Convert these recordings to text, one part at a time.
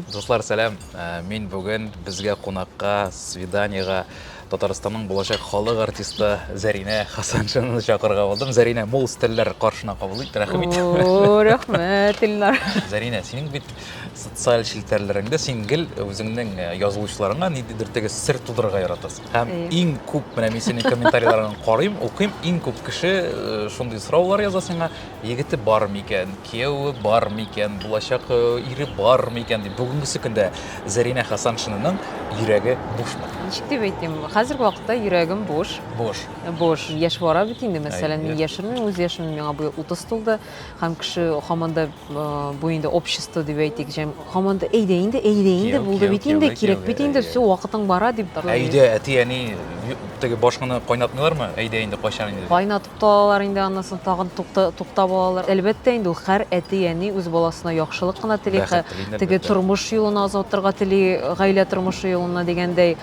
Дуслар, сәлам! Мин бүген безгә кунакка, свиданиега Татарстанның булачак халык артисты Зәринә Хасаншинаны чакырырга булдым. Зәринә, мул стельләр каршына кабул ит, рәхим ит. О, рәхмәт, Илнар. Зәринә, синең бит социаль челтәрләреңдә син гел үзеңнең э, язылучыларыңа ниндидер теге сер тудырырга яратасың. Һәм Әйе. иң күп, менә мин синең комментарийларыңны карыйм, укыйм, иң күп кеше э, шундый сораулар яза сиңа, егете бар микән, кияүе бар микән, булачак э, ире бар микән дип бүгенге көндә Зәринә Хасаншинаның йөрәге бушмы? Ничек дип әйтим, хәзерге вакытта йөрәгем буш. Буш. Буш. Яшь бара бит инде, мәсәлән, мин яшермим үз яшемне, миңа быел 30 тулды, һәм кеше һаман да э, бу инде общество дип әйтик, җәм һаман да әйдә инде, әйдә инде, булды бит инде, кирәк бит инде, все, вакытың бара дип. Әйдә, әти-әни теге башканы кайнатмыйлармы? Әйдә инде кайчан инде? Кайнат Тотталалар инде аннан соң тагын тукта тукта балалар. Әлбәттә инде ул хәр әти әни үз баласына яхшылык кына тели, хә теге тормыш юлына озатырга тели, гаилә тормышы юлына дигәндәй.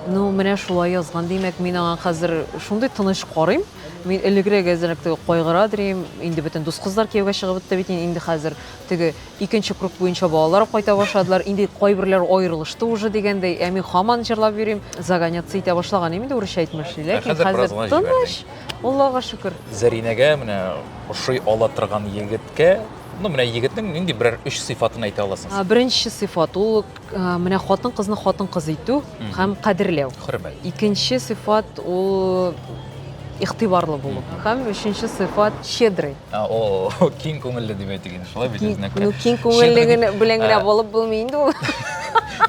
Ну менә шулай язган димәк, мин аңа хәзер шундый тыныч карыйм. Мин элегрәк әзрәк теге кайгыра дирим, инде бөтен дус кызлар кияүгә чыгып бетте бит, инде хәзер теге икенче круг буенча балалар кайта башладылар, инде кайберләр аерылышты уже дигәндәй, ә мин хаман җырлап йөрим. Загоняться итә башлаган инде, урысча әйтмешли, ләкин хәзер тыныч. Аллага шөкер. Зәринәгә менә ошый ала торган егеткә, ну менә егетнең нинди берәр өч сыйфатын әйтә аласыз? Беренче сыйфат ул менә хатын-кызны хатын-кыз итү һәм кадерләү. Хөрмәт. Икенче сыйфат ул игътибарлы булу. Һәм өченче сыйфат щедрый. А, о, киң күңелле дип әйтик инде, шулай бит үзенә күрә. Ну, киң күңеллеген белән генә булып булмый инде ул.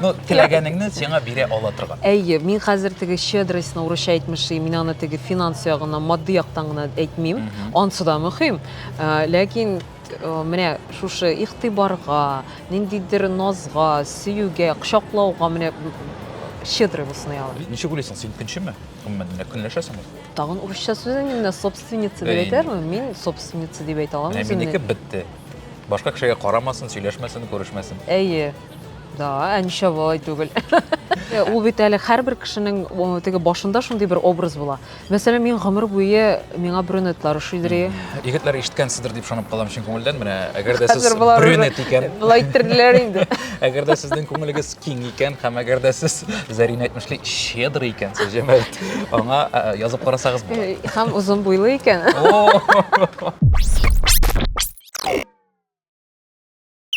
Ну, теләгәнеңне сиңа бирә ала торган. Әйе, мин хәзер теге щедростьны урысча әйтмешли, мин аны теге финанс ягына, матди яктан гына әйтмим. Ансы да мөһим. Э, ләкин э, менә шушы игътибарга, ниндидер назга, сөюгә, кочаклауга менә щедрый булсын, ягъни. Ничек уйлыйсың, син көнчеме? Гомумән, көнләшәсеңме? Тагын урысча сүз инде менә собственница дип әйтәрмен. Мин собственница дип әйтә аламын үземне. Минеке бетте. Башка кешегә карамасын, сөйләшмәсен, күрешмәсен. Әйе. Да, ә нишләп болай түгел? Э, ул бит әле һәрбер кешенең теге башында шундый бер образ була. Мәсәлән, мин гомер буе миңа брюнетлар шидри. Егетләр ишеткәнсездер дип шанып калам чын күңелдән. Менә әгәр дә сез брюнет икән, былай иттерделәр инде. Әгәр дә сезнең күңелегез киң икән һәм әгәр дә сез Зәрин әйтмешли щедр икәнсез, җәмәгать, аңа язып карасагыз була. Һәм озын буйлы икән.